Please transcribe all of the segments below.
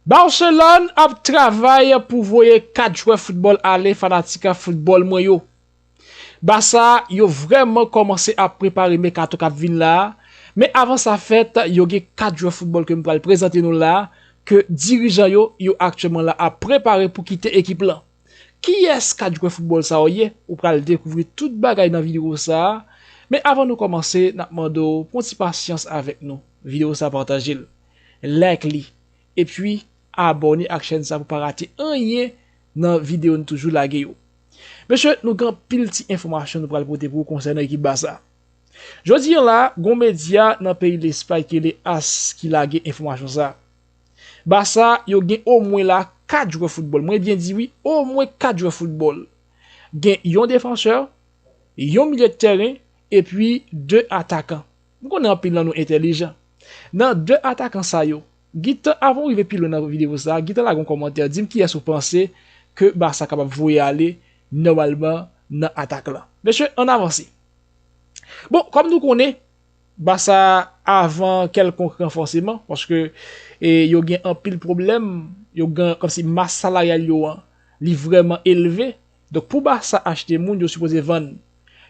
Barcelone ap travay pou voye 4 jwè football ale fanatik football mwen yo. Barça yo vrèman kòmanse ap prepare mekato kap vin la, men avan sa fèt yo gen 4 jwè football ke m pral prezante nou la ke dirijan yo yo aktyèman la ap prepare pou kite ekip lan. Kiyès 4 jwè football sa yo ye? Ou pral dekouvri tout bagay nan video sa, men avan nou kòmanse nap mande w pran ti pasyans avèk nou, video sa patajel. like li epi abòne ak chèn sa pou pa rate anyen nan video nou toujou lage yo. Mesye nou gen anpil ti enfòmasyon nou pral pote pou ou konsènan ekip Barça. Jodi an la gon medya nan peyi Lespay ki rele as ki lage enfòmasyon sa. Barça yo gen omwen la 4 jwè foutbòl, mwen byen di wi omwen 4 jwè foutbòl. Gen yon defansè, yon milye de tèren epi 2 atakan. M konnen anpil nan nou entèlijan. Nan 2 atakan sa yo. Gintan avan ou rive pi lwen nan video sa, gintan lage yon kòmantè dim kiyès ou panse ke Barça kapab voye ale nòmalman nan atak lan. Mesye ann avanse. Bon kòm nou konnen Barça avan kèlkonk ranfòseman paske yo gen anpil pwoblèm, yo gen kòmsi mas salaryal yo an li vrèman elve, donk pou Barça achte moun yo sipoze vann.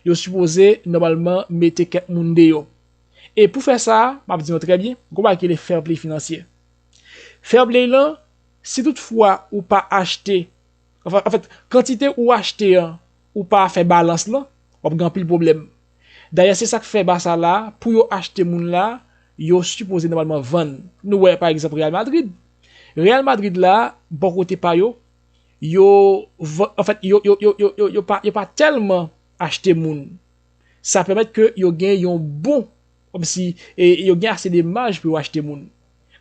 Yo sipoze nòmalman mete kèk moun deyò. E pou fè sa, m ap di nou trè byen, gon bagay ki rele fair play finansye. Fair play lan, si tout fwa ou pa achte, anfèt, kantite ou achte an, ou pa fè balans lan, w ap gen anpil pwoblèm. Dayè se sak fè Barça la, pou yo achte moun la, yo sipoze nòmalman vann. Nou wè pa egzanp Real Madrid. Real Madrid la, bò kote pa yo, yo, anfèt, yo pa tèlman achte moun. Sa pèmèt ke yo gen yon bon, kòmsi, e yo gen ase de maj pou yo achte moun.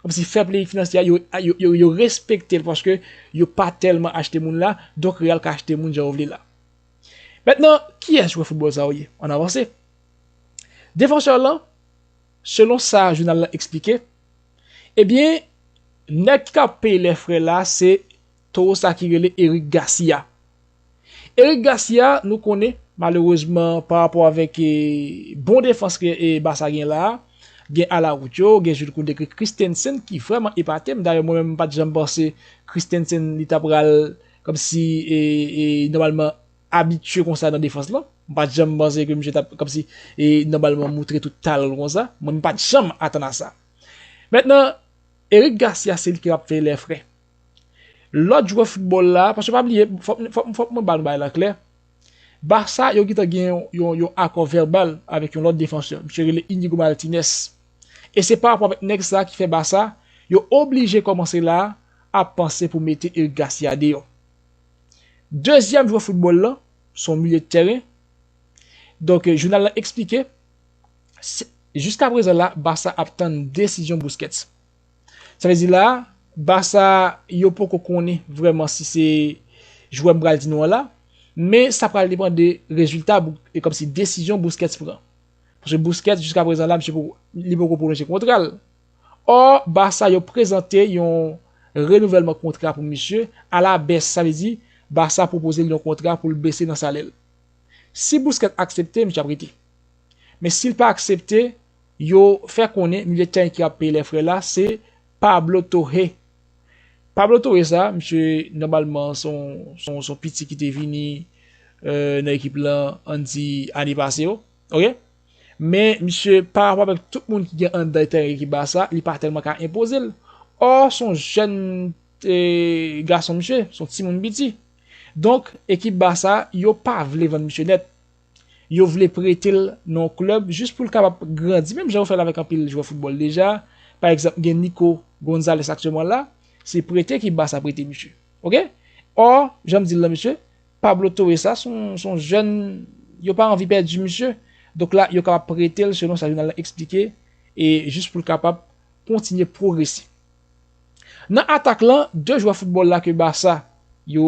Kòmsi fè play finansye a, yo respekte l paske yo pa tèlman achte moun la, donk Real ka achte moun jan yo vle la. Mentnan, kiyès jwè foutbòl sa yo ye? Ann avanse. Defenseur lan, selon sa jounal lan eksplike, ebyen, nèg ki ka peye lè frè la se towo sa ki rele Eric Garcia. Eric Garcia nou konnen malerezman pa rapò avèk bon defans ke Barça gen la, gen Araujo, gen Jude Koundé, gen Christensen ki vrèman epate m, dayè mwen menm m pat janm panse Christensen li ta pral kòmsi nòmalman abitye konsa nan defans lan, m pat janm panse ke misye tap kòmsi nòmalman moutre tout talan l konsa, mwen m pat janm atann a sa. Mentnan Eric Garcia se li ki ap fè lè fre. Lòt jwè foutbòl la, paske pa bliye, fòk mwen ba nou bagay lan klè, Barça yo gentan gen yon akò vèbal avèk yon lòt defansè, misye rele Inigo Martinez, e se pa rapò avèk nèg sa ki fè Barça yo oblije kòmanse la ap panse pou mete Eric Garcia deyò. Dezyèm jwè foutbòl lan, se yon milye tèren, donk jounal lan eksplike, jiskaprezan la Barça ap tann desizyon Busquets. Sa vle di la, Barça yo poko konnen vrèman si se jwè m pral di nou an la, men sa pral depan de rezilta e kòmsi desizyon Busquets pran. Paske Busquets jiska prezan la misye poko li poko pwolonje kontra l. Ò, Barça yo prezante yon renouvèlman kontra pou misye a la bès, sa vle di Barça pwopoze l yon kontra pou l bese nan salè l. Si Busquets aksepte, misye ap rete. Men si l pa aksepte, Yo fè konnen milye de tèren ki ap peye lèfrè la se Pablo Torre. Pablo Torre sa, misye nòmalman son piti ki te vini nan ekip lan an di ane pase yo. Ok. Men misye parapò avèk tout moun ki gen anndan tèren ekip Barça, li pa tèlman ka enpoze l. Ò son jèn gason misye, son timoun piti. Donk ekip Barça yo pa vle vann misye nèt. Yo vle prete l nan yon klèb jis pou l kapab grandi menm jan yo fè l avèk anpil jwè foutbòl deja. Pa egzanp, gen Nico Gonzalez aktyèlman la, se prete ki Barça prete misye. Ok! Ò, jan m di l la mesye, Pablo Torre sa se yon jèn yo pa anvi pèdi misye. Donk la, yo kapab prete l selon sa jounal la eksplike e jis pou l kapab kontinye pwogrese. Nan atak lan, 2 jwè foutbòl la ke Barça yo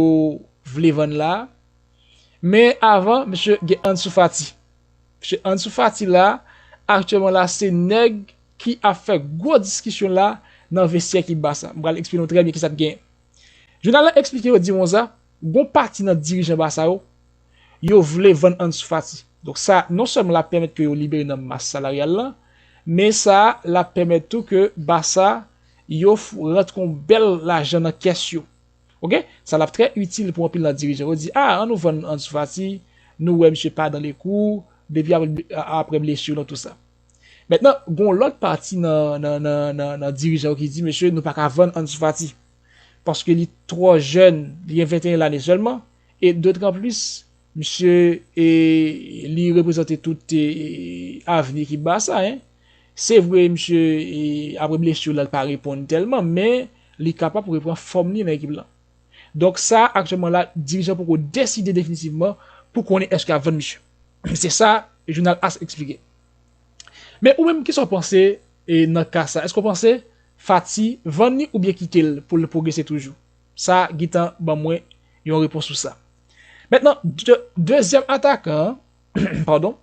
vle vann la, Men avan misye gen Ansu Fati. Misye Ansu Fati la, aktyèlman la se nèg ki ap fè gwo diskisyon la nan vestyè ki Barça. Mwen pral eksplike nou trè byen kisa k genyen. Jounal la eksplike yo di konsa, gon pati nan dirijan Barça yo, yo vle vann Ansu Fati. Donk sa non sèlman l ap pèmèt ke yo libere nan mas salaryal lan, men sa l ap pèmèt tou ke Barça yo rantre yon bèl lajan nan kès yo. Ok sa lap trè itil pou anpil nan dirijan yo di ah an nou vann Ansu Fati nou wè misye pa dan le kou depi aprè blessure nan tou sa mentnan gon lòt pati nan dirijan yo ki di mesye nou paka vann Ansu Fati paske li twò jèn li gen 21 lane sèlman e dotran plis misye li reprezante tout avni ekip Barça hein. Se vre misye apre blessure la li pa reponn tèlman men li kapab repran fòm li nan ekip lan. Donk sa aktyèlman la dirijan poko deside definitivman pou konnen eske ap vann misye. Se sa jounal as eksplike. Men ou menm kisa w panse nan ka sa? Eske w panse Fati vann li oubyen kite l pou l pwogrese toujou? Sa gentan ban mwen yon repons sou sa. Mentnan dezyèm atakan an, padon.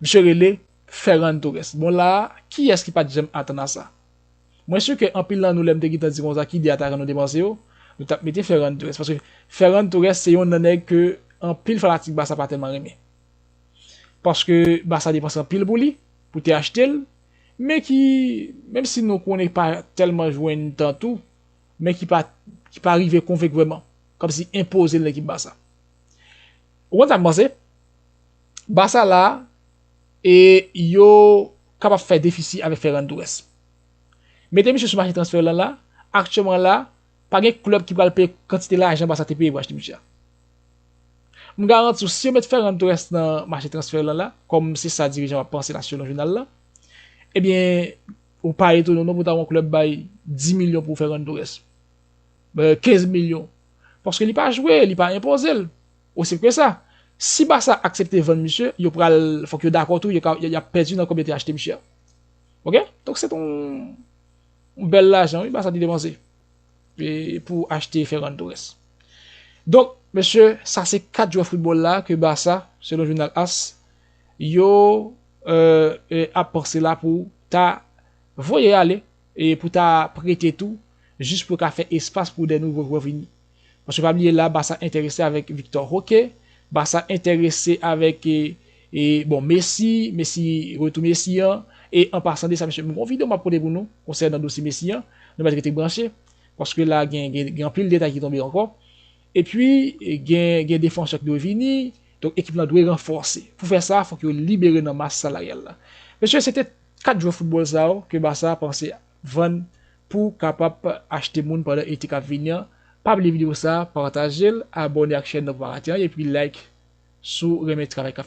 Misye rele Ferran Torres. Bon la a, kiyès ki pa t janm atann a sa? Mwen si ke anpil nan nou lè m te gentan di konsa ki 2 atakan nou te panse yo, nou t ap mete Ferran Torres. Paske Ferran Torres se yonn nan nèg ke anpil fanatik Barça pa tèlman renmen. Paske Barça depanse anpil pou li, pou te achte l, men ki, menm si nou konnen pa tèlman jwenn tan tou, men ki pa ki pa rive konvenk vrèman, kòmsi enpoze l nan ekip Barça. Ou konn sa m panse? Barça la e yo kapab fè defisi avèk Ferran Torres. Mete misye sou mache transfè lan la, aktyèman la, pa gen klèb ki pral peye kantite lajan Barça te peye pou achte misye a. M garanti w si yo met Ferran Torres nan mache transfè lan la, kòm se sa dirijan yo ap panse la selon jounal la, ebyen ou pa etone w non pou ta wè yon klèb bay 10 milyon pou Ferran Torres, 15 milyon, paske li pa jwe, li pa enpoze l. Osi senp ke sa. Si Barça aksepte vann misye, yo pral fòk yo dakò tou yap pèdi nan kòb yo te achte misye a. Ok. Donk se te yon bèl lajan wi Barça te depanse pou achte Ferran Torres. Donk mesye sa se 4 jwè foutbòl la ke Barça selon jounal as yo ap panse la pou ta voye ale e pou ta prete tou jis pou yo ka fè espas pou de nouvo jwè vini. Paske pa bliye la Barça entèrese avèk Victor Roque, Barça entèrese avèk e bon Messi, Messi retou Messi an, e an pasan de sa mesye m gon video map pote pou nou konsènan dosye Messi an, nou mèt rete branche paske la gen gen anpil detay ki tonbe ankò. E pi gen gen defansè ki dwe vini, donk ekip lan dwe ranfòse. Pou fè sa fòk yo libere nan mas salaryal la. Mesye se te 4 jwè foutbòl sa yo ke Barça panse a. vann pou kapap achte moun pandan ete kap vini an pa bliye video sa patajel abone ak chèn nan pou pa rate anyen epi like sou renmen travay kap.